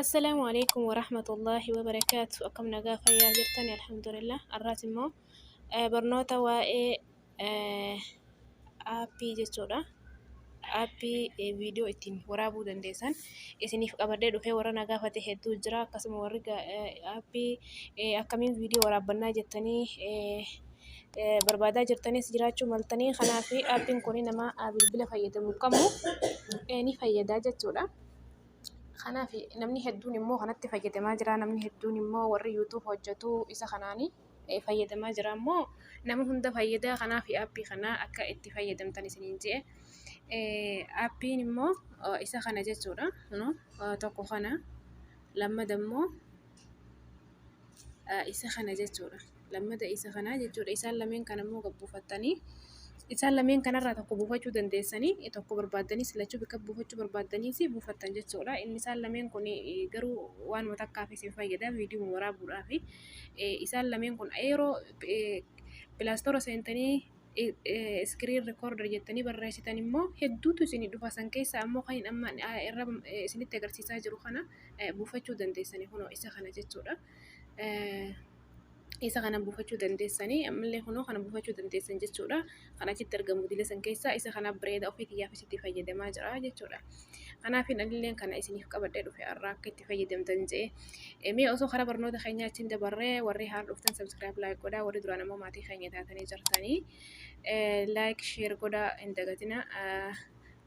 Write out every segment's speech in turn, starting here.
Assalaamu alaikum wa rahmatullahi wa barakaatu. Akkam nagaa fayyaa jirtan alhamdulillah. Har'aas immoo eh, barnoota waa'ee eh, aappii jechuudha. Aappii eh, viidiyoo ittiin waraabuu dandeessan isiniif qabadee dhufee warra na gaafate hedduu jira. Akkasuma warri ga- eh, aappii eh, akkamiin viidiyoo waraabbannaa jettanii eh, barbaadaa jirtanis jiraachuu maltanii kanaaf aappiin kun nama bilbila fayyadamu kamuu ni fayyadaa jechuudha. Kanaaf namni hedduun immoo kanatti fayyadamaa jira namni hedduun immoo warri yuutuubi hojjatuu isa kanaan fayyadamaa jira immoo nama hunda fayyadaa kanaaf aappii kanaa akka itti fayyadamtan isiniin je'e. Aappiin immoo isa kana jechuudha tokko kana lammada immoo. isa kana jechuudha. Lammata isa kanaa jechuudha. Isaan lameen kana immoo gad buufattanii isaan lameen kanarraa tokko buufachuu dandeessanii tokko barbaaddanis lachuu bakka buufachuu barbaaddanis buufattan jechuudha. Inni isaan lameen kun garuu waanuma takkaaf isin fayyada viidiyoo waraabuudhaaf. Isaan lameen kun yeroo pilaastoora seentanii screen recorder jettanii barreessitan immoo hedduutu isin dhufa san keessa ammoo kan amma irra isinitti agarsiisaa jiru kana buufachuu dandeessanii kunoo isa kana jechuudha. Isa kana buufachuu dandeessanii ammallee kunoo kana buufachuu dandeessan jechuudha. Kan achitti argamu dila san keessa isa kana bireeda ofii kiyyaaf isitti fayyadamaa jira jechuudha. Kanaaf anilleen kana isiniif qabadhee dhufe har'a akka itti fayyadamtan je'e. Mee osoo karaa barnoota keenyaa ittiin dabarree warri haara dhuftan subscribe like godhaa warri duraan ammoo maatii keenya taatanii jirtanii like share godhaa hin dagatina.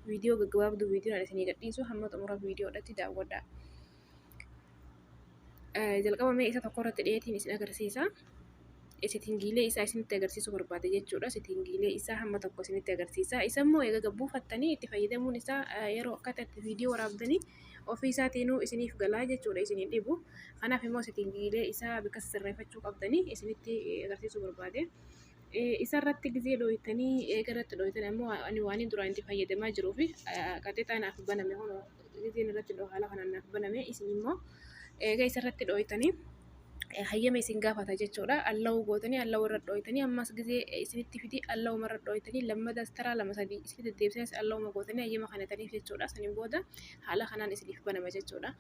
Viidiyoo gaggabaabduu viidiyoon isinii gadhiisu hamma xumura viidiyoodhatti daawwadhaa. jalqaba mee isa tokko irratti dheetiin isin agarsiisa. Sitingiilee isaa isinitti agarsiisuu barbaada jechuudha. Sitingiilee isaa hamma tokko isinitti agarsiisa. Isa immoo egaa buufattanii itti fayyadamuun isaa yeroo akkata itti viidiyoo waraabdanii ofii isaatiinuu isiniif galaa jechuudha isin hin dhibu. Kanaaf immoo sitingiilee isaa bakka sirreeffachuu qabdanii isinitti agarsiisuu barbaade. Isarratti gizee dhooytanii eega irratti dhooytan ammoo ani waan duraan itti fayyadamaa jiruu fi qaxexaa naaf baname kun gizeen irratti dhoo haala kanaan naaf baname isin immoo eega isarratti dhooytanii hayyama isin gaafata jechuudha. Allahu gootanii allahu irra dhooytanii ammas gizee isinitti fidii allahu irra dhooytanii lammadas taraa lama sadii isinitti deebisanii allahu gootanii hayyama kanataniif jechuudha. Saniin booda haala kanaan isiniif banama jechuudha.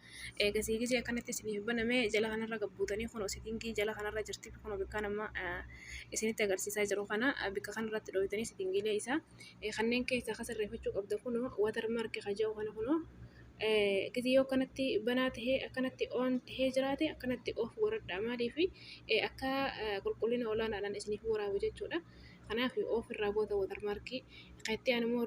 Eegasii gizee akkanatti isiniif baname jala kanarra gabbuutanii kunoo sitingii jala kanarra jirti kunoo bikkaan amma isinitti agarsiisaa jiru kana bikka kanarratti dhooytanii sitingiilee isaa kanneen keessaa kan sirreeffachuu qabda kunoo watar marki kaja'u kana kunoo gizee yoo akkanatti banaa tahee akkanatti oon tahee jiraate akkanatti of godhadha maaliif akka qulqullina olaanaadhaan isiniif waraabu jechuudha. Kanaaf of irraa goota watar markii kan itti aanu immoo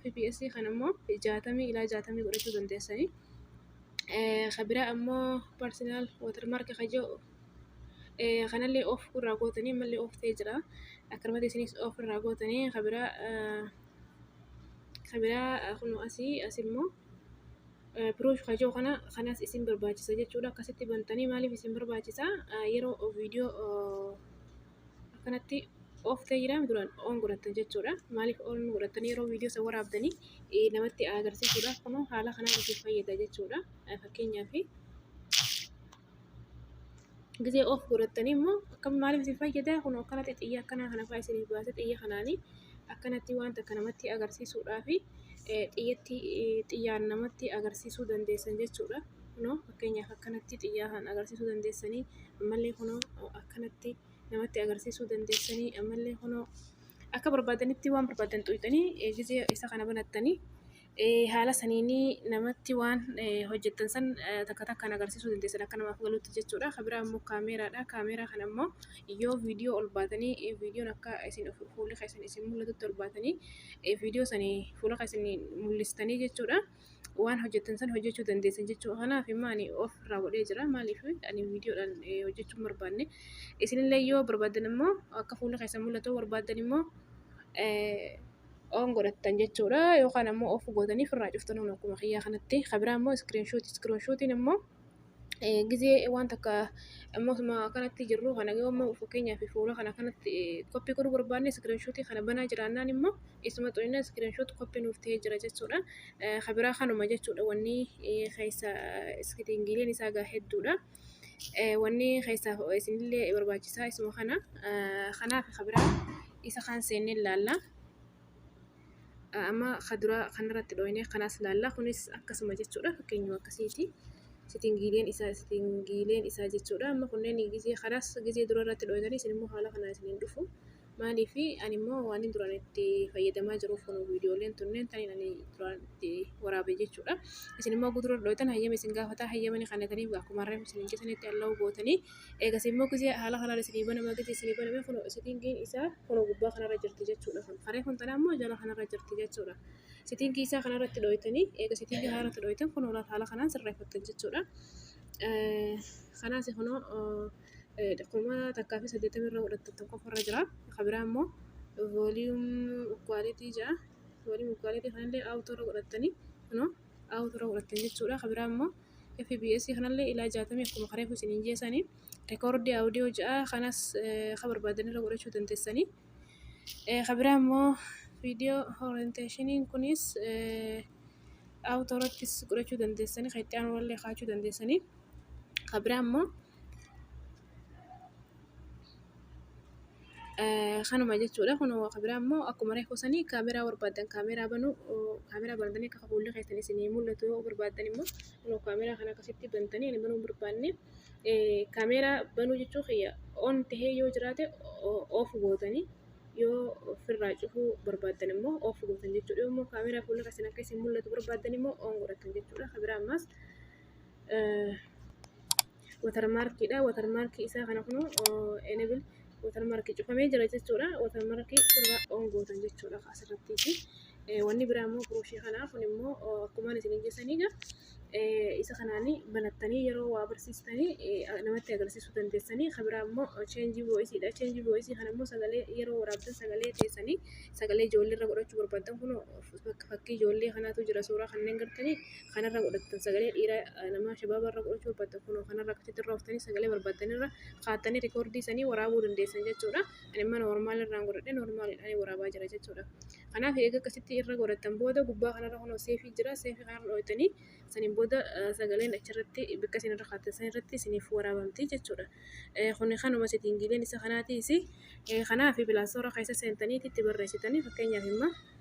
fps kan ammoo jaatamii ilaa jaatamii godhachuu dandeessanii ka biraa ammoo personal watermark ka jedhu kanallee off irraa gootanii ammallee off ta'ee jira akkanumatti isinis off irraa gootanii ka biraa ka biraa kunoo asii as immoo proof ka jedhu kana kanas isin barbaachisa jechuudha akkasitti bantanii maaliif isin barbaachisa yeroo viidiyoo akkanatti ooftee jira duraan oon godhattan jechuudha. Maaliif oon godhattan yeroo viidiyoo isa waraabdanii eh, namatti agarsiisuudha. Kunoo haala kanaan isin fayyada jechuudha. Eh, Fakkeenyaaf gisee oof godhattanii immoo akkam maaliif isin fayyada kunoo akkanatti xiyya akkanaa kana fa'aa isiniif baase xiyya kanaanii akkanatti wanta akka namatti agarsiisuudhaa fi eh, xiyyatti eh, xiyyaan namatti agarsiisuu dandeessan jechuudha. kunoo fakkeenyaaf akkanatti xiyyaa kan agarsiisuu dandeessanii ammallee kunoo akkanatti namatti agarsiisuu dandeessanii ammallee kunoo akka barbaadanitti waan barbaadan xuqxanii gizee isa kana banattanii haala saniinii namatti waan hojjettan san takka takkaan agarsiisuu dandeessan akka namaaf galuutti jechuudha kabiraa immoo kaameeraadha kaameeraa kan ammoo yoo viidiyoo ol baatanii viidiyoon akka isin fuulli keessan isin mul'atutti ol baatanii viidiyoo sanii fuula keessan mul'istanii jechuudha. waan hojjettan san hojjechuu dandeessan jechuu kanaaf immoo ani of irraa godhee jira maaliif ani viidiyoodhaan eh, hojjechuu hin barbaanne isinillee yoo barbaadan immoo akka fuula keessan mul'atu barbaadan immoo eh, oon godhattan jechuudha yookaan ammoo of gootanii firraa cuftan akkuma kiyyaa kanatti kabiraa immoo iskiriinshuutii iskiriinshuutiin immoo gizee waan takka ammuma akkanatti jirru kana yoo ammoo fakkeenyaaf fuula kana kanatti koppii godhuu barbaanne iskiriinshotii kana banaa jiraannaan immoo isuma tuqnee iskiriinshoot koppii nuuf ta'ee jira jechuudha. Kan biraa kanuma jechuudha wanni keessa iskiriingiin isaa egaa hedduudha. Wanni keessa isinillee barbaachisaa isuma kana kanaaf kan biraa isa kaan seennee ilaalla. Amma kaduraa kanarratti dhooyne kanas laalla kunis akkasuma jechuudha fakkeenyuma akkasiiti. Sitingiileen isaa sitingiileen isaa jechuudha amma kunneen gizee kanas gizee dura irratti dhooytanii isin immoo haala kanaa isin hin dhufu. Maaliif ani immoo waan hin duraan itti fayyadamaa jiruuf kun viidiyooleen tunneen taniin ani duraan itti waraabe jechuudha. Isin immoo gudura dhooytan hayyama isin gaafata hayyamani kanatanii akkuma reef isin hin jetanitti allahu gootanii. Eegasii immoo gisee haala kanaan isinii banama gisee isinii baname kun sitiingiin isaa kun gubbaa kanarra jirti jechuudha. Kun faree kun tanaa immoo jala kanarra jirti jechuudha. Sitiingii isaa kanarratti dhooytanii eega sitiingii kanarratti dhooytan kun haala kanaan sirreeffattan jechuudha. Kanaas kunoo kuma takkaa fi saddeettamii irra godhattan tokko irra jira. Kan biraa immoo vooliyuum kwaalitii ja'a vooliyuum kwaalitii kanallee awutoo irra godhattanii kunoo. dhaawuu tura godhattan jechuudha. Kan biraa immoo FBS kanallee ilaa jaatamii akkuma kareefu isin hin jeesanii rekoordii audio ja'a kanas ka barbaadan irra godhachuu dandeessanii. Kan biraa immoo viidiyoo orienteeshiniin kunis auto irrattis godhachuu dandeessanii kan itti aanullee kaachuu dandeessanii. Kan biraa immoo Kanuma jechuudha. Kun kan biraa immoo akkuma reefu sanii kaameeraa barbaadan kaameeraa banuu kaameeraa bantanii akka fuulli keessan isinii mul'atu yoo barbaadan immoo kunoo kaameeraa kana akkasitti bantanii ani banuu hin barbaanne kaameeraa banuu jechuu kiyya on tahee yoo jiraate off gootanii yoo ofirraa cufuu barbaadan immoo off gootan jechuudha. Yoo immoo kaameeraa fuulli keessan akka isin mul'atu barbaadan immoo on godhattan jechuudha. Kan biraa ammaas watarmaarkii dha. Watarmaarkii isaa kana kunuu enable watarmaarkii cufamee jira jechuudha. Watarmaarkii ofirraa on gootan jechuudha asirrattiiti. Wanni biraa immoo birooshii kanaa kun immoo akkumaan isiniin jessaniiga isa kanaanii banattanii yeroo waa barsiistanii namatti agarsiisuu dandeessanii. Kan biraa immoo cheenjii vo'isii dha. Cheenjii vo'isii kana immoo sagalee yeroo waraabdan sagalee teessanii sagalee ijoollee irra godhachuu barbaaddan kunoo bakka fakkii ijoollee kanaatu jira suuraa kanneen gartanii. kanarra godhattan sagalee dhiira namaa shabaaba irra godhachuu barbaaddan kunoo kanarra akkasitti irra oftanii sagalee barbaaddan irra kaattanii rikoordii sanii waraabuu dandeessan jechuudha. Ani amma noormaal irraan godhadhe noormaaliidhaan waraabaa jira jechuudha. Kanaaf eega akkasitti irra godhattan booda gubbaa kanarra kunoo seefii jira seefii kanarra dhooytanii saniin booda sagaleen achirratti bakka isin irra kaattan san irratti isiniif waraabamti jechuudha. Kuni kanuma setiingiileen isa kanaatiisi. Kanaaf pilaastoora keessa seentanii itti barreessitanii fakkeenyaaf immoo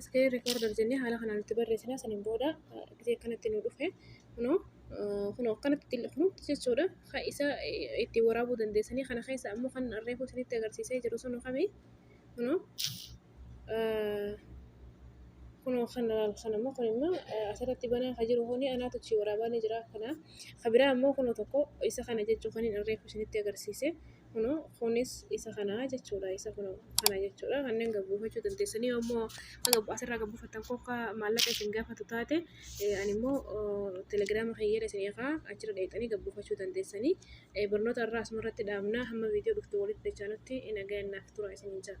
iskiriin riikoorder jennee haala kanaan itti barreessina saniin booda gisee akkanatti nu dhufe kunoo kunoo akkanatti xilqnutti jechuudha kan isa itti waraabuu dandeessanii kana keessa ammoo kan reefuu isinitti agarsiisee jiru sun kami kunoo kunoo kan ilaalu sana immoo kun immoo asirratti banaa kan jiru kun anaatu achi waraabaa ni jira kana kan biraa immoo kunoo tokko isa kana jechuu kan hin irreefu isinitti agarsiise kunoo kunis isa kana jechuudha isa kunoo kana jechuudha kanneen gabbuufachuu dandeessanii immoo asirraa gabbuufattan kokka maallaqa isin gaafatu taate ani immoo telegiraama kiyyeera isin eegaa achirra dheexanii gabbuufachuu dandeessanii eh, barnoota irraa asuma irratti dhaabna hamma viidiyoo dhuftu walitti dachaanutti nagayaan naaf tura isiniin jedha.